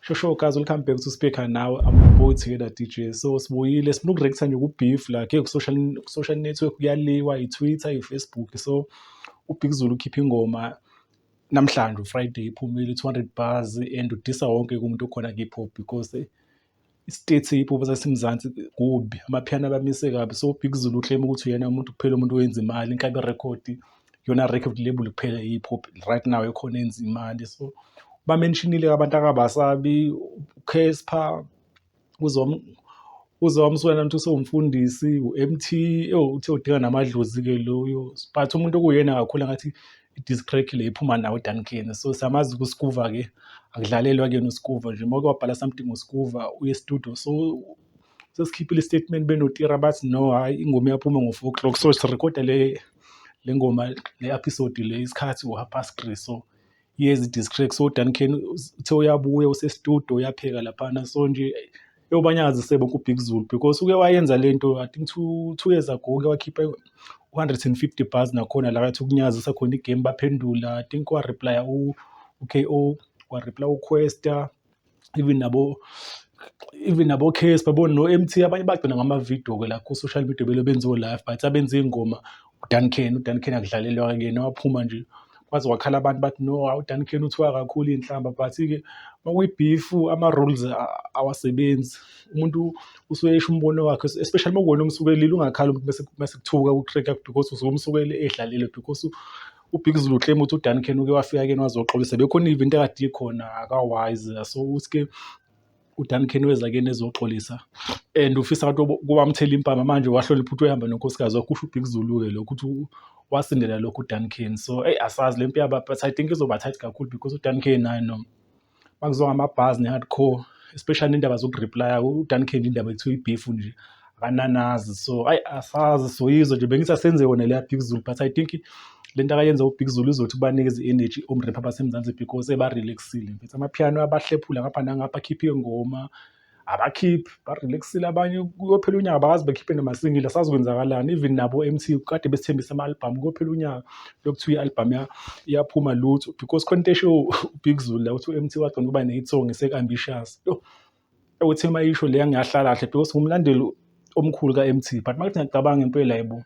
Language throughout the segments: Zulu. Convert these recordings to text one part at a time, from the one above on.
shosho guys welcome back to speaker now i'm both here that dj so sibuyile sifuna ukurektha nje kubeef la ke social social network kuyaliwa i-twitter i-facebook so ubig zulu ukhipha ingoma namhlanje ufriday iphumile 200 bars and udisa wonke kumuntu okhona kihip hop because Isitethe ipopo saseMzansi kubi, amaphiyano abamise kabi. So uBig Zulu ukleyime ukuthi uyena umuntu kuphela umuntu owenza imali, inkabi rekhodi, iyona record label kuphela i-hip hop right now ekhona eyenza imali. So ubamenshinile abantu akabasabi, uCassper, uZola Msweli uthi usewumfundisi, u-M_T, ewu uthe udinga namadlozi-ke loyo. But umuntu okuwuyena kakhulu angathi i-discrec le iphuma nawo uDuncan so siyamazi kuskuva ke akudlalelwa kuyena uskuva nje uma kwabhala something ngoskuva uye studio so sesikhiphile istatement benotira bathi no hayi ingoma iyaphuma ngo-four o'clock so sirekhoda le le ngoma le episode le isikhathi ngo-half past three so yezi-discrec so uDuncan uthe uyabuya usestudio uyapheka laphana so nje Ewu banyakazise bonke uBig Zulu because uke wayenza le nto I think two, two years ago uke wakhipha 150 bars nakhona la kathi ukunyakazisa khona igame baphendula I think wareplya u-KO wareplya uQuesta even nabo even nabo case babona no MT abanye bagcina ngama video ke la ku social media belo benziwe live but abenza ingoma uDuncan uDuncan akudlalelwa kuyena waphuma nje kwaze kwakhala abantu bathi no uDuncan uthiwa kakhulu iy'nhlamba but-ke makuyibhifu ama-rules awasebenzi umuntu usuke esho umbono wakhe especially makuwona omsukelile ungakhali umuntu mese kuthuka utreka because usuke umsukele edlalile because ubig zulu claim ukuthi uDuncan uke wafika kuyena wazoxolisa bekhona even into akade ikhona akawazi so ukuthi-ke uDuncan weza kuyena ezoxolisa and ufisa abantu kubamthela impama manje wahlola iphuthu ehamba nonkosikazi wakho usho uBig Zulu-ke lokho ukuthi wasindela lokho uDuncan so eyi asazi le mpi yaba but I think izoba tight kakhulu because uDuncan naye no makuzonga amabhazi ne-hardcore especially indaba zokureplya uDuncan indaba ekuthiwa ibeef nje akananazi so ayi asazi soyizwa nje bengisasenze wona leya big zulu but i think le nto akayenza ubig zulu izothi ubanikeze i-energy omrap abasemzansi because ebarelaxile mfethu amaphiyano abahlephula ngapha nangapha akhiphe ingoma abakhiphi barelaxile abanye kuyophela unyaka bakazi bekhiphe namasingile asazokwenzakalani even nabo m t kade besithembisa ama-albhamu kuyophela unyaka lokuthiwa i-albhamu iyaphuma lutho because khona into esho ubig zulu la uthi u-m t wagcina ukuba ne-hit song esek-ambitious ukuthi uma isho leya ngiyahlala kahle because ngumlandeli omkhulu ka-MT but makuthi ngiyacabanga impela yebo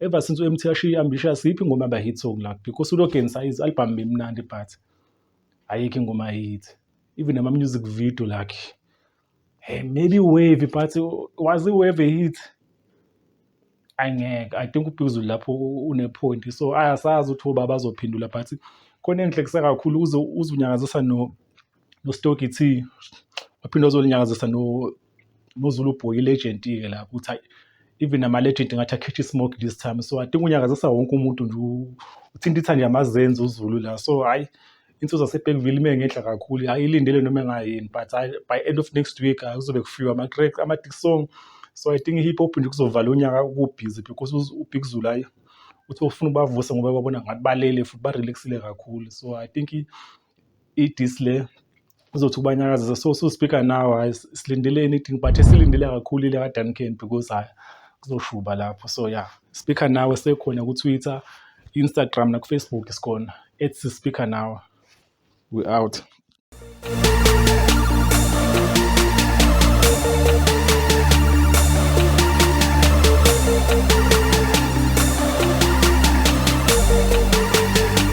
ever since u-MT ashiye ambitious yiphi ingoma yaba hit song la because ulogenisa izi-albhamu bemnandi but ayikho ingoma hit even nama-music video lakhe hey, maybe wave but was i-wave a hit angeke i think ubhekuzulu lapho une-point so ayasazi ukuthi obaba azophendula but khona engihlekisa kakhulu uze unyakazisa no noStoki T waphinde wazolinyakazisa noZulu Boy ilegend-ke la ukuthi hayi even nama-legend ngathi akhithe i-smoke this time so i think unyakazisa wonke umuntu nje uthinta ithandi yamazenzi uZulu la so hhayi insizwa yaseBergville ime ngenhla kakhulu hhayi ilindele noma engayini but hhayi by end of next week hhayi kuzobe kufiwa ama-crack ama-dick song so i think i-hip hop nje kuzovala unyaka kubhizi because ubig zulu hhayi uthi ufuna ubavusa ngoba babona ngathi balele futhi barelaxile kakhulu so i think i-disle uzothi ukubanyakazisa so so-speaker now hayi silindeleni i-ding but esilindele kakhulu ile kaduncan because hayi kuzoshuba lapho so ya speaker nawe sekhona kutwitter instagram nakufacebook sikhona ets speaker nawe we out